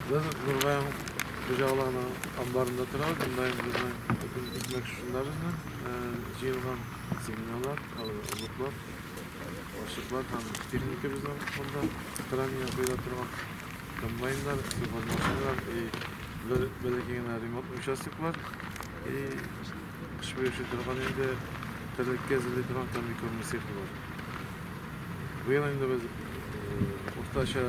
Без Нурбаем хуҗалыгының амбарында торабыз. Монда безнең бөтен икмәк шунда безнең җыелган семеналар, орлыклар, ашыклар һәм техника безнең фонда хранение куела торган комбайннар, сельхозмашиналар и бер бәләкәй генә ремонт участоклар и кыш буе торган инде терлеккә әзерли торган комбикормы цехы бар. Быел инде без уртача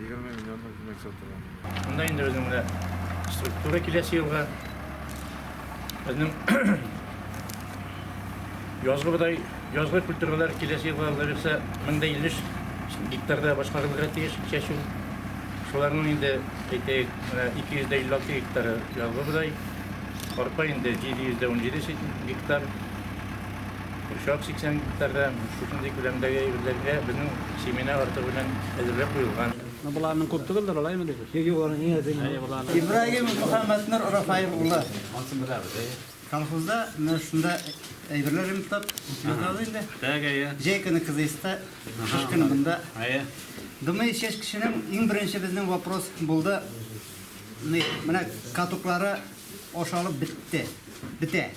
20 миллионлык күмәк сатылган. Монда инде безнең менә структура киләсе елга. Безнең язгы бодай, язгы культуралар киләсе елга алла бирсә 1050 гектарда башкарылырга тиеш чәчү. Шуларның инде әйтәйек, менә 256 гектары язгы бодай, арпа инде 717 гектар. Курчак 80 гектарда шушындый күләмдәге әйберләргә безнең семена артыгы белән әзерләп куелган. Ну боларның күп түгелдер, алаймы дип. Юк, юк, аны иң әзер мин. Ибраһим Мөхәммәтнур Рафаев улы. Анысын беләбез, әйе. Колхозда менә шунда әйберләр ремонтлап, семена алды инде. Так, әйе. Җәй көне кызыйста, кыш көне монда. Әйе. Думаю, чәч кешенең иң беренче безнең вопрос булды. Менә катоклары ашалып бетте, бетә.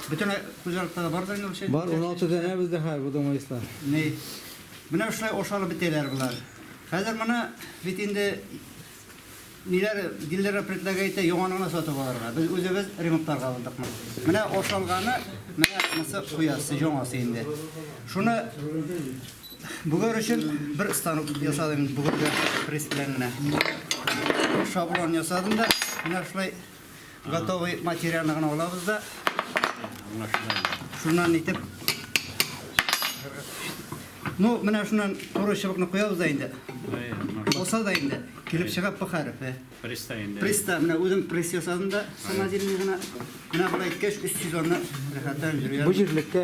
Бөтен хуҗалыкта да бар да инде ул чәй. Бар, 16 данә бездә хәзер бу домоислар. Ни? Менә шулай ашалып бетәләр болар. Хәзер моны бит инде ниләр диләр предлагай итә яңаныгына сатып алырга. Без үзебез ремонтларга алдык моны. Менә ашалганы, менә монысы хуясы, яңасы инде. Шуны бүгәр өчен бер станок ясадым инде бүгәр пресс белән генә. Шаблон ясадым да, менә шулай Готовый материалны гына алабыз да. Шуннан итеп. Ну, менә шуннан туры чыбыкны куябыз да инде. Булса да инде килеп чыга П хәрефе. Приста инде. Приста, менә үзем пресс ясадым да, самодельный гына. Менә болай иткәч 300 аны рәхәттән җөргән. Бу җирлеккә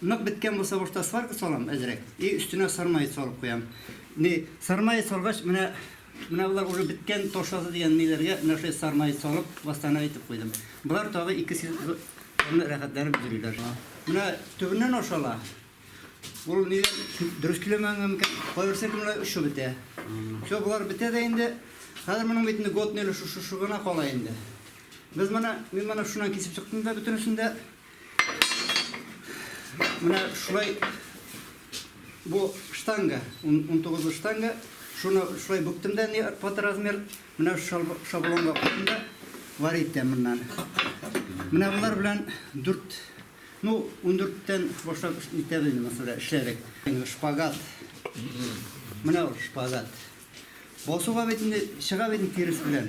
Нык беткән булса башта сварка салам әзрәк и өстенә сармаец салып куям. Ни сармаец салгач менә менә болар уже беткән ташасы дигән ниләргә менә шулай сармаец салып бастана итеп куйдым. Болар тагы ике сезонны рәхәтләнеп йөриләр. Менә төбеннән ашала. Ул ни дөрес килемәнгә микән? Кайберсе кемлә шо бетә. Шо болар бетә дә инде. Хәзер моның бит инде год неле шушы шугына кала инде. Без моны мин моны шуннан кисеп чыктым да бөтенесен дә Менә шулай бу штанга, 19 штанга, шуны шулай бүктем дә, не под размер, менә шаблонга куйдым да, вар итәм моннан. Менә болар белән 4 Ну, 14-тен башлап итәбез инде мәсәлән, эшләдек. Шпагат. Менә ул шпагат. Басуга бит инде чыга бит тирес белән.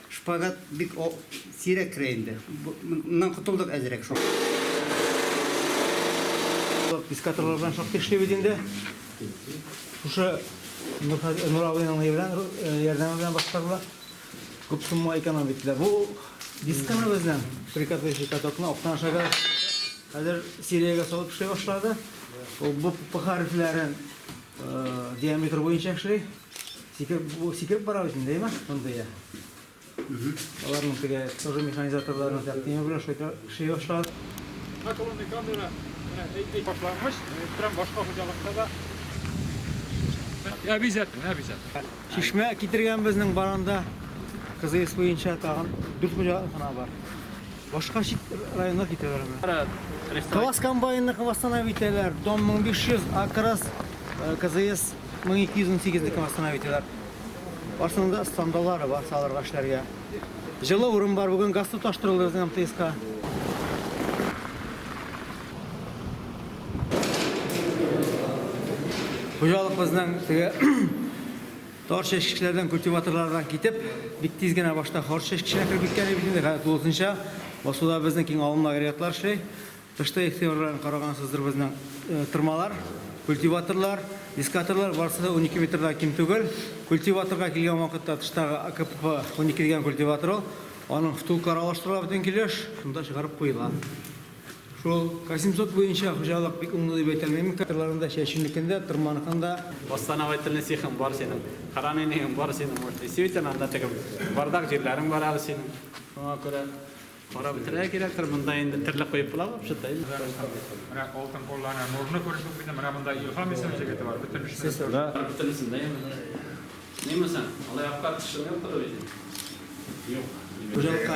Шпагат бик сирәк керә инде. Моннан котылдык әзрәк шул. Искатырлар белән шактый эшлибез инде. Шушы Нур абыйның ярдәме белән башкарыла. Күп сумма эконом иттеләр. Бу дисканы безнең прикатывающий катокны актан ашага хәзер сериягә салып эшли башлады. Ул бу хәрефләрен диаметр буенча эшли. Сикереп бара бит инде, әйме? Мондый. Аларның теге тоже механизаторларның тәкъдиме белән шөй башлар. Наклонный камера әйтми башлангыч, прям башка хуҗалыкта да. Обязательно, обязательно. Чишмә китергән безнең баранда кызыйс буенча тагын дүрт хуҗалык кына бар. Башка чит районга китәләр аны. Класс комбайнны восстанови итәләр. Дом 1500, Акрас, э, КЗС 1218 ник восстанови итәләр. Барсында стандалары бар салырга эшләргә. Җылы урын бар, бүген газ тоташтырылды безнең МТСка. Хуҗалык безнең теге Тар чәчкечләрдән, культиваторлардан китеп, бик тиз генә башта хор чәчкеченә кереп киткән идек инде. Хәзер тулысынча басуда безнең киң алымлы агрегатлар эшли. Тышта ихтыярларын карагансыздыр безнең тырмалар, культиваторлар, дискаторлар барысы да унике метрдан ким түгел. Культиваторга килгән вакытта тыштагы АКПХ унике дигән культиватор ул. Аның втулкалары алыштырыла бөтен килеш, шунда чыгарып куела. Шул Касимсот буенча хуҗалык бик уңды дип әйтә алмыйм. Кырларында, чәчүнекен дә, тырманыкын да. Восстановительный цехың бар синең, хоранениең бар синең, вот действительно анда теге бардак җирләрең бар әле синең. Шуңа күрә карап бетерергә кирәктер, монда инде терлек куеп була вообще-то. Менә алтын куллы ана Нурны күреп үк бирдем, менә монда Илһам исемле җегете бар, бөтен эшне эшли. Да, бөтен эшне дә ясый. Ниме соң, алай аптырап төшең юктыр бит инде? Юк. Хуҗалыкка.